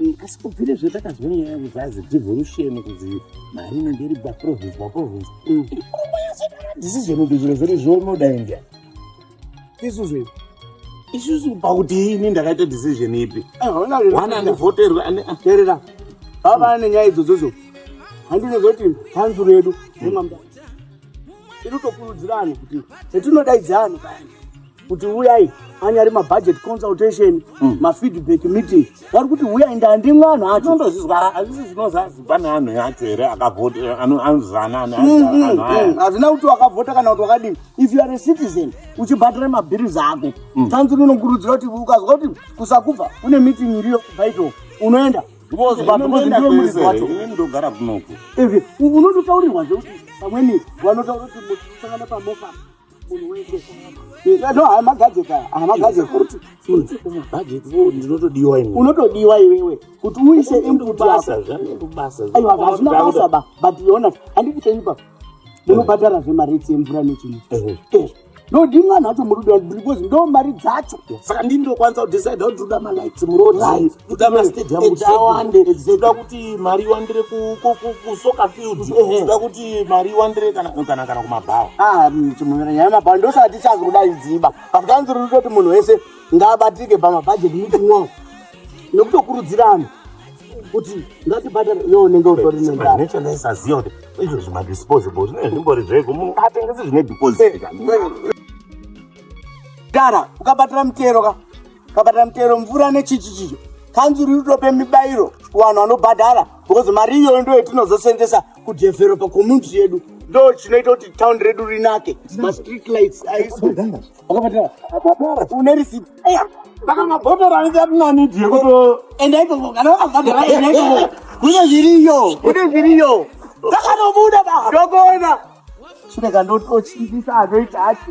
Mm, asi kubvire zve takanzwa nyaya yangu zvazi devolution kuzi mari inenge iri baprovince baprovince decision kuti zviro zviri zvonoda india isu zve isusu pakuti ini ndakaita decision ipi wana andivhoterwe terera vava ane nyaya idzodzodzo handinozoti kanzuru yedu nemamda iri tokurudzira anhu kuti hetinodaidza anhu payani kuti uyai anyari mabudget consultation mm. mafeedback meeting vari kuti uyai ndandi mwana acho ndozvizwa azvisi zvinozazi pane anhu yacho here akavhota eh, anozana anhu mm, mm, mm. hazvina kuti wakavhota kana kuti wakadini if you are a citizen uchibhatira mabhirizi ako tanzuri inokurudzira kuti ukazwa kuti kusakubva une meeting iriyo baito unoenda ndogara kunoku unototaurirwa zvekuti pamweni vanotaura kuti musangana pamofa munhu wese no haya magajeti aya haya magajeti futi futi kumabhajeti vo ndinotodiwa ini unotodiwa iwewe kuti uise input yako aiwa hazvina basa ba but yona handiti chaipa ndinobhadhara zve mari etsi yemvura nechino ndodi mwana wacho murudo because ndo mari dzacho saka ndini ndokwanisa kudecide kuti uda malights muroad toda mastadium kuti awande toda kuti mari iwandire kusoccer field toda kuti mari iwandire kana kana kumabhawa ah, mm, chimuvira nyaya yemabhawa ndosati tichazi kudai dziba but kanzi ruri kuti munhu wese ngaabatike pamabhajeti meeting wao nekutokurudzira anhu kuti ngatibhadhare yo unenge utori nendaaisaziva kuti izvozvi madisposable zvine zvimbori zveko munhu atengese zvine deposit dara ukabatira mutero ka kabata mutero mvura nechichi chicho kanzuru itope mibairo kuvanhu vanobhadhara because mari iyoyo ndo yatinozosenzesa kudevelopa community yedu ndo chinoita kuti town redu rinake mastreet lights une receipt saka mabhodhoro anenge atinanidi yekuto enda ikoko kana vakabhadhara enda ikoko kune zviriyo kune zviriyo takanobuda baa ndokuona chirega ndotochimbisa anoita acho